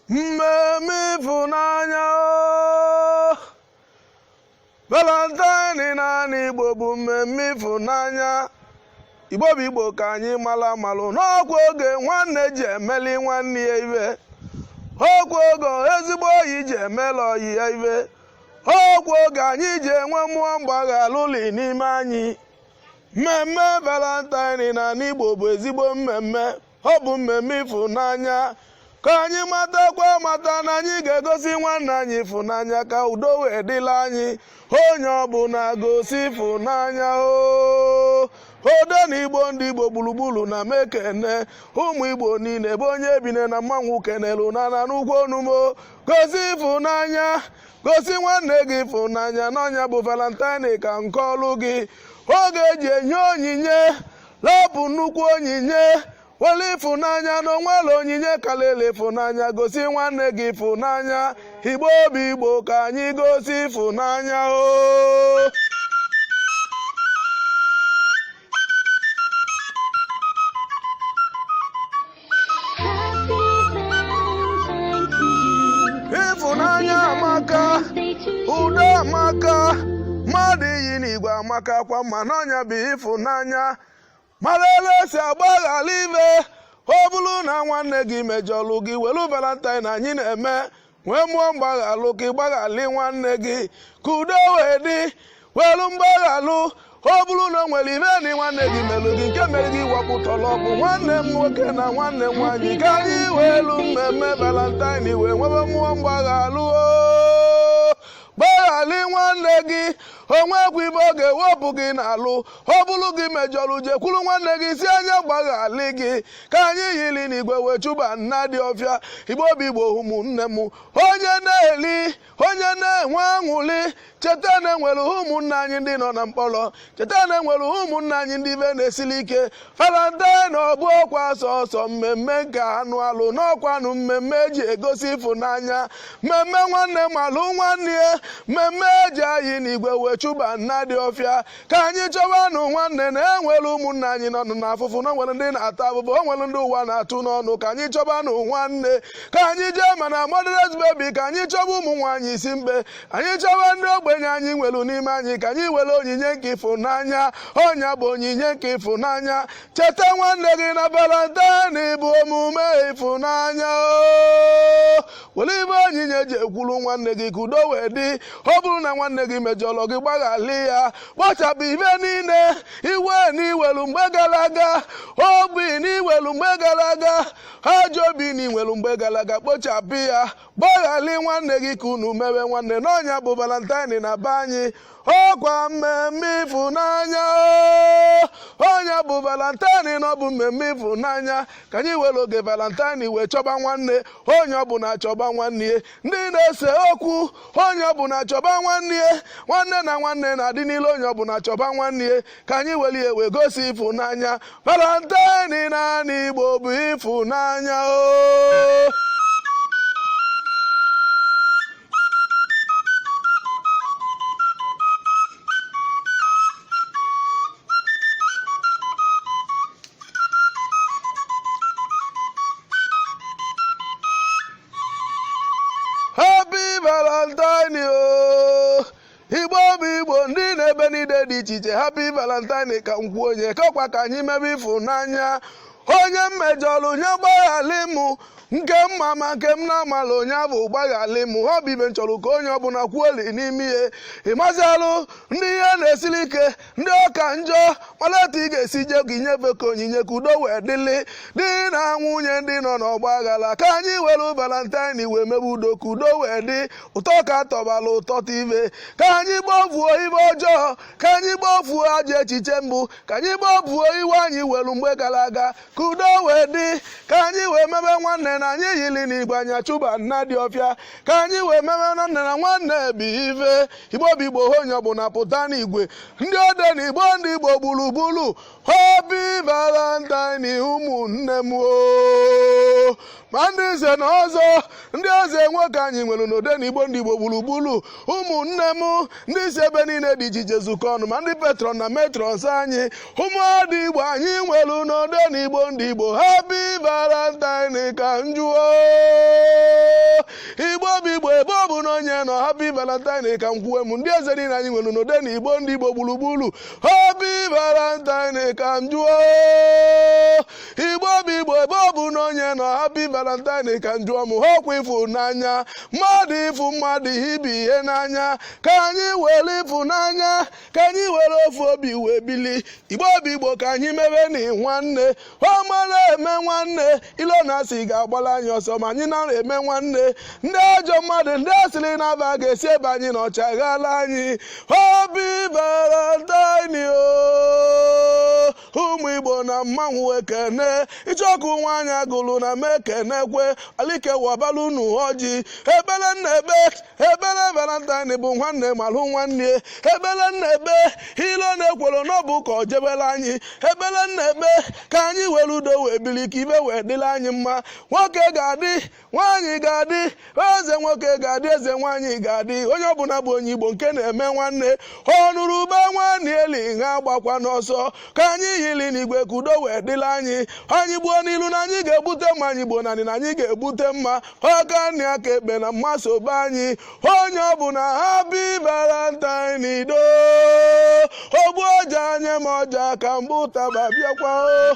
mmemme ịfụnanya o. valentine n'anị igbo bụ mmemme ịfụnanya igbo bụ igbo ka anyị malụ amalụ n'ọkwa oge nwanne ji emeli nwanne ya ive ọkwa oge ezigbo ọyị ji emela ọyị ya ive ọkwa oge anyị ji enwe mmụọ mgbaghalụ n'ime anyị mmemme valentine n'anị igbo bụ ezigbo mmemme ọ bụ mmemme ịfụnanya ka anyị matakwa mata na anyị ga-egosi nwanne anyị ịfụnanya ka udo wee dịla anyị onye ọbụla gosi ịfụnanya o odenigbo ndị igbo gburugburu ana m ekene ụmụ igbo niile ebe onye ebine na mmanwụ kenelu na na n'ugwu onumo gosi ịfụnanya gosi nwanne gị ịfụnanya na ọ nya bụ valentine ka nke ọlụ gị oge eji enye onyinye lapụ nnukwu onyinye were ịfụnanya na onwere onyinye karịrị ịfụnanya gosi nwanne gị ịfụnanya igbo bụ igbo ka anyị gosi ịfụnanya o ịfụnanya amaka udo amaka mmadụ iyi n'igwe amaka kwa mma na ọ nya bụ ịfụnanya mara ele esi agbaghara ibe ọ bụrụ na nwanne gị mejọlụ gị welu valentine anyị na-eme nwee mmụọ mgbaghalụ ka ịgbaghalị nwanne gị ka udo wee dị welu mgbaghalụ ọ bụrụ na o nwere ive na nwanne gị melụ gị nke mere gị wapụtala ọgwụ nwanne m nwoke na nwanne m nwaanyị ka anyị welu mmemme valentine wee nwebe mmụọ mgbaghalụ oo. gbaghalị nwanne gị onwekwa ive ọ ga-ewepụ gị n'alụ ọ bụrụ gị mejọrọ jekwuru nwanne gị sị a nya gbaghalị gị ka anyị yiri n'igwe wee chụba nnadị ọfịa igbo bụ igbo ụmụnne m onye na-eli onye na-enwe aṅụli cheta na enwere ụmụnne anyị ndị nọ na mkpọrọ cheta na enwere ụmụnne anyị ndị ive na-esili ike valentine ọ bụrọkwa sọsọ mmemme nke anụ alụ n'ọkwanụ mmemme eji egosi ịfụnanya mmemme nwanne malụ nwanne ya mmemme eji ayị n'igwe wee chụba nnadị ọfịa ka anyị chọbanụ nwanne na enwere ụmụnne anyị nọ n'afụfụ na o nwere ndị na-ata afụfụ o nwere ndị ụwa na-atụ n'ọnụ ka anyị chọbanụ nwanne ka anyị jee ma na motherless baby ka anyị chọba ụmụ nwaanyị isi mkpe anyị chọba ndị ogbenye anyị nwere n'ime anyị ka anyị were onyinye nke ịfụnanya ọ nya bụ onyinye nke ịfụnanya cheta nwanne gị na valentine bụ omume ịfụnanya o were ife onyinye jekwuru nwanne gị ka udo wee dị ọ bụrụ na nwanne gị mejọrọ gị gbaghalị ya kpochapụ ife niile iwe na i welu mgbe gara aga obi na i welu mgbe gara aga ajọ obi na i nwelu mgbe gara aga kpochapụ ya gbaghalị nwanne gị ka unu mewe nwanne na ọ nya bụ valentine na be anyị ọkwa mmemme ịfụnanya ọ nya bụ valentine na ọ bụ mmemme ịfụnanya ka anyị were oge valentine wee chọba nwanne onye ọbụla chọba nwanne ya ndị na-ese okwu onye ọbụla chọba nwanne ya nwanne na nwanne na-adị n'ilo onye ọbụla chọba nwanne ya ka anyị weli ya wee gosi ịfụnanya valentine n'anị igbo bụ ịfụnanya o igbo bụ igbo ndị nọ ebe niile dị iche iche happy valentine ka m kwuo onye kekwa ka anyị mebe ịfụnanya onye m mejọrọ nya gbaghalị mụ nke m ma ma nke m na-amala onye ọ bụ gbaghalị mụ ọ bụ ife m chọrọ ka onye ọbụla kwuoli n'ime ihe ịmazịalụ ndị ihe na-esiri ike ndị ọ ka njọ mara etu ị ga-esi jee ka i nyefe ka onyinye ka udo wee dịlị di na nwunye ndị nọ n'ọgba aghara ka anyị were valentine wee mebe udo ka udo wee dị ụtọ ka atọbala ụtọ ibe ka anyị gbafuo ife ọjọọ ka anyị gbafuo ajọ echiche mbụ ka anyị gbafuo iwe anyị were mgbe gara aga ka udo wee dị ka anyị wee mebe nwanne na anyị yiri n'igwe anyị achụba nnadi ọfịa ka anyị wee mebe nwanne na nwanne bụ ife igbo bụ igbo onye ọbụla pụta n'igwe ndị odenigbo ndị igbo gburugburu happy valentine ụmụnne m oo ma ndị nze na ọzọ ndị eze nwoke anyị nwere n'odenigbo ndị igbo gburugburu ụmụnne m ndị si ebe niile dị iche iche zukọ ọnụ ma ndị patron na matrons anyị ụmụada igbo anyị nwere n'odenigbo ndị igbo happy valentine ka m jụọ igbo bụ igbo ebe ọbụna onye nọ happy valentine ka m kwuwe m ndị eze niile anyị nwere n'odenigbo ndị igbo gburugburu happy valentine ka m jụọ igbo bụ igbo ebe ọbụna onye nọ happy valentine ka m jụọ m ọkwa ịfụnanya mmadụ ịfụ mmadụ ibe ya n'anya ka anyị were ịfụnanya ka anyị were ofu obi wee bili igbo bụ igbo ka anyị mebe na nwanne o mara eme nwanne ilo na asị ga-agbala anyị ọsọ ma anyị mara eme nwanne ndị ajọ mmadụ ndị asịrị na-aba ga-esi ebe anyị nọ chaghala anyị happy valentine o ụmụ igbo na mmanwụ ekene icheọkụ nwaanyị agụlụ na m ekenekwe alike wabala unu ọjị ebele nna ebe ebele valentine bụ nwanne malụ nwanne ebele nna ebe ilo na ekwolo n'ọbụ ka o jebele anyị ebele nna ebe ka anyị were udo wee bili ka ibe wee dịlị anyị mma nwoke ga-adị nwaanyị ga-adị eze nwoke ga-adị eze nwaanyị ga-adị onye ọbụla bụ onye igbo nke na-eme nwanne ọ nụrụ ube nwanne eli ha agbakwana ọsọ ka anyị yili n'igwe ka udo wee dịlị anyị anyị gbuo n'ilu na anyị ga-ebute mma anyị gbuo n'anị na anyị ga-ebute mma aka nni aka ekpe na mma so be anyị onye ọbụla happy valentine ido ogbu ọja anya m ọja ka mbụ taba bịakwa o